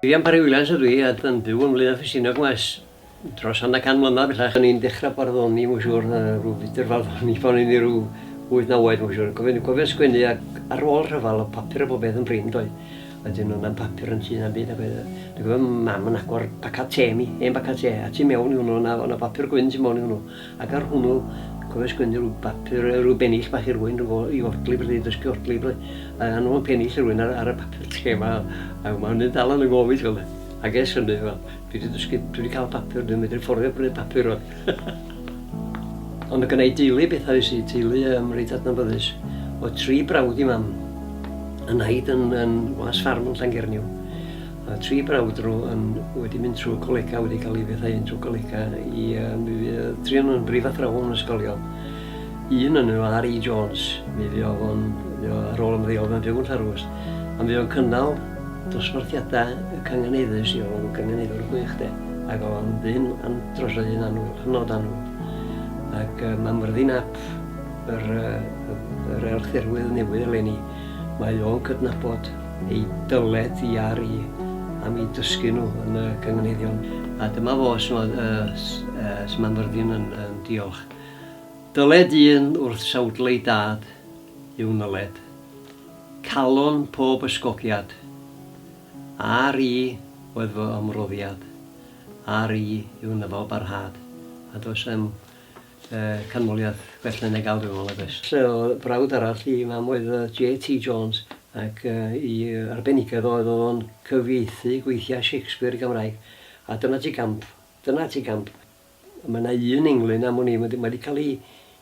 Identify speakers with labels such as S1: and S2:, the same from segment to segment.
S1: Rhian Parry Williams ydw i, a yn byw yn Flaenau Ffestiniog maes dros hanner can mlynedd bellach. O'n i'n dechrau barddoni, mae'n siŵr, rhyw fydr farddoni pan o'n i rhyw 8-9 oed, mae'n siŵr. Cofio'n cofio sgwennu ac ar ôl rhyfel o papur a bob beth yn brin, doedd. Wedyn oedd 'na'm papur yn tŷ na'm byd ac oedd yy dwi'n cofio mam yn agor bacad te i mi, hen bacad te, a tu mewn i hwnnw o'na o'na bapur gwyn tu mewn i hwnnw, ac ar hwnnw cofio sgwennu rhyw bapur yy rhyw bennill bach i rywun rhyw i odli bydde i dysgu odli bydde, a a nhw'n pennill i rywun ar ar y papur te 'ma a ma' hynny'n dal yn 'y ngofid fel ag ers hynny wel Dwi 'di dysgu, dwi 'di cael papur, dwi'n medru fforddio prynu papur rwan. Ond mae gennau deulu bethau i sy'n teulu um, reit adnabyddus. O tri brawd i mam, yn haid yn, yn was ffarm yn Llangerniw. A tri brawd nhw yn, wedi mynd trwy colega, wedi cael ei fethau yn trwy colega i um, tri o'n nhw'n brifathrawon yn ysgolion. Un yn nhw, R.E. Jones, mi fi oedd o'n ar ôl ymddeol mewn byw yn Llarwst. A mi o'n cynnal Dosbarthiadau y Canganeiddus i ôl Canganeiddwr gwych de, ac oedd o'n ddyn an- drosodd hi'n annwyl, hynod annwyl. Ac yy mae Myrddin ap yr yy yr Elchderwydd newydd eleni, mae o'n cydnabod ei dyled hi ar i am i dysgu nhw yn y Canganeiddion. A dyma fo sut mae yy s- yy sut mae Myrddin yn yn diolch. Dyled un wrth sawdle ei dad yw nyled. Calon pob ysgogiad. Ar i oedd fy ymroddiad, ar i yw nyfal barhad. A does am canmoliaeth gwell na Neg Alw nag oes? So brawd arall i mam oedd JT Jones ac i arbenigedd oedd oedd o'n cyfieithu gweithiau Shakespeare i Gymraeg a dyna ti gamp, dyna ti gamp. Mae yna un englyn am wn i, mae 'di cael ei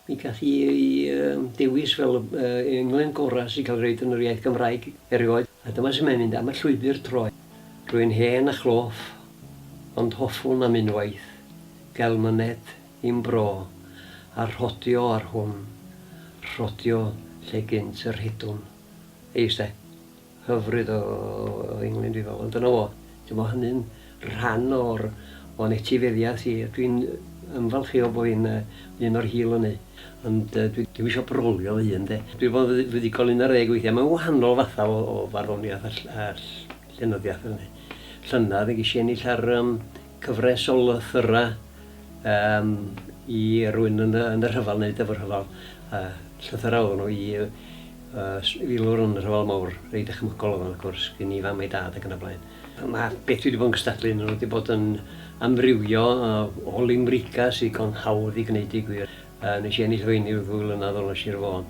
S1: i gael ei dewis fel y englyn gorau sy'n cael ei roed yn yr iaith Gymraeg erioed, a dyma sut mae'n mynd, am y llwybr troed. Rwy'n hen a chloff, ond hoffwn am unwaith gael myned i'm bro, a rhodio ar hwn, rhodio lle gynt y rhedwn. Eis de. hyfryd o Englyn dwi feddwl ond dyna fo. T'mo' hynny'n rhan o'r o'n etifeddiath i a dwi'n ymfalchïo bo' fi'n yy un o'r hil ynny. Ond yy dwi ddim isio brolio fy hun 'de. Dwi bod yn fuddugol un ar ddeg weithia'. Mae'n wahanol fatha o o farddoniath a ll- a ll- llenyddiath fel 'ny. Llynedd ges i ennill ar yym cyfres o lythyra' yym i rywun yn y yn y rhyfel neu Dyfrrhyfel yy llythyra' oddon nhw i yy Ers filwr yn y Rhyfel Mawr, rei dychmygol oedd o wrth gwrs, gen i fam a'i dad ac yn y blaen. Mae beth dwi wedi bod yn gystadlu yn nhw wedi bod yn amrywio o limricau sydd digon hawdd i gwneud i gwir. Nes i ennill fy eni rhyw ddwy flynedd yn ôl yn Sir Fôn.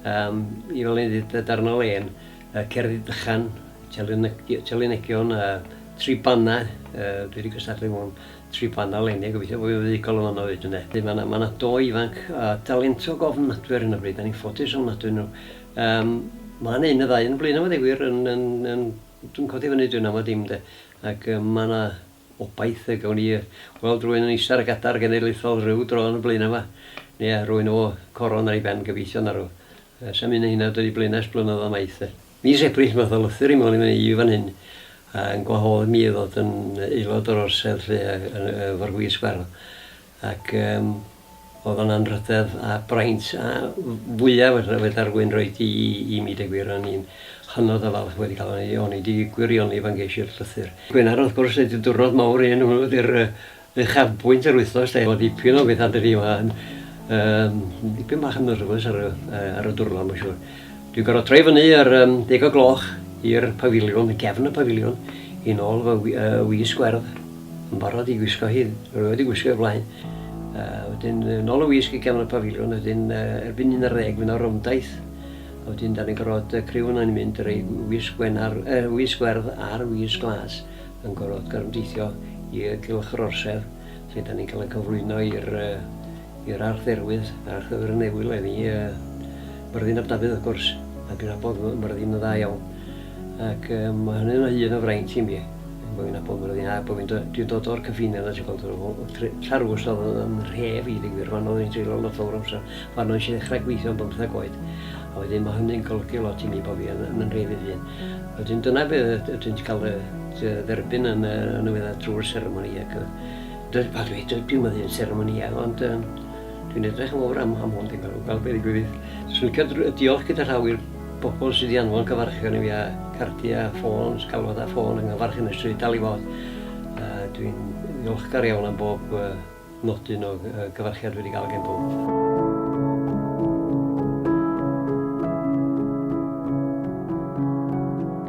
S1: Um, I fel yn dweud, darn o len, cerddi dychan, telynegion, tri banna, dwi wedi gystadlu mewn tri plant nawr leni a gobeithio bo' fi'n fuddugol o fanno 'fyd ynde. Felly ma' 'na ma' 'na do ifanc a dalentog ofnadwy ar hyn o bryd, 'dan ni'n ffodus ofnadwy o nw. Yym ma' 'na un ne' ddau yn y blaenau 'ma ddeu gwir yn yn yn dwi'n codi fyny dwi'n ama dim 'de ac yym ma' 'na obaith y gawn ni yy weld rywun yn eista ar y gadar genedlaethol ryw dro yn y blaenau 'ma ne' rywun o coron ar ei ben gobeithio na rw yy sa'm un o hynna 'di dod i blaenau ers blynyddoedd maith 'de. Mis Ebrill math o lythyr i mewn i fynny i fan hyn yn gwahodd mi i ddod yn aelod o'r orsedd 'lly efo'r gwisg farw ac yym o'dd o'n anrhydedd a braint a fwya fedra'r gwyn roid i i mi deu gwir o'n i'n hynod o falch wedi ca'l o'n i o'n i 'di gwirioni pan gesh i'r llythyr. Gwener wrth gwrs neud y dwrnod mowr i un o hwnnw ydi'r yy uchafbwynt yr wythnos de, o dipyn o fethau dydi yma yn um, dipyn bach yn nyrfys ar, uh, ar y dwrnod mae'n siŵr. Dwi'n gorfod troi fyny ar um, deg o gloch i'r pafiliwn, y gefn y pafiliwn, i nôl fy uh, wi sgwerdd yn barod i gwisgo hi, rwy'n wedi gwisgo i blaen. Uh, wedyn, nôl y wisg i gefn y pafiliwn, wedyn uh, erbyn un ar ddeg fy'n o'r ymdaith. A wedyn, da ni'n gorfod uh, criw yna'n mynd rei wisg, gwenar, uh, wisg werdd a'r wisg glas. yn gorfod gorymdeithio i gylch yr orsedd lle dan ni'n cael ein cyflwyno i'r i'r Arch Dderwydd, Arch Dderwydd yn Newydd le ni, uh, Myrddin ab Dafydd wrth gwrs, ac yn abod Myrddin yn dda iawn. Ac um, mae hynny'n o hyn o fraint i mi, bod fi'n abod Myrddin, a bod fi'n do, dwi'n dod o'r cyffiniau yna, ti'n gweld, Llarws oedd yn rhef i ddigwyr, fan oedd yn treulio lot o'r amser, fan oedd eisiau ddechrau gweithio yn bymthag oed, a wedyn mae hynny'n golygu lot i mi bod fi yn, yn rhef i ddyn. Wedyn dyna be ydyn ti'n cael dy dderbyn yn y nwyddau drwy'r seremoni ac yy pa dwi, dwi'm yn ddyn seremonïau ond yy dwi'n edrych yn fawr am, am hwn dwi'n meddwl, gweld beth i gwybod. Swn i'n cael diolch gyda llaw i'r bobl sydd wedi anfon cyfarchion i fi a cardiau a ffôns, galwad a ffôn yng nghyfarch yn y stryd dal i fod. Dwi'n ddiolchgar iawn am bob Nodyn o gyfarchiad wedi gael gen pob.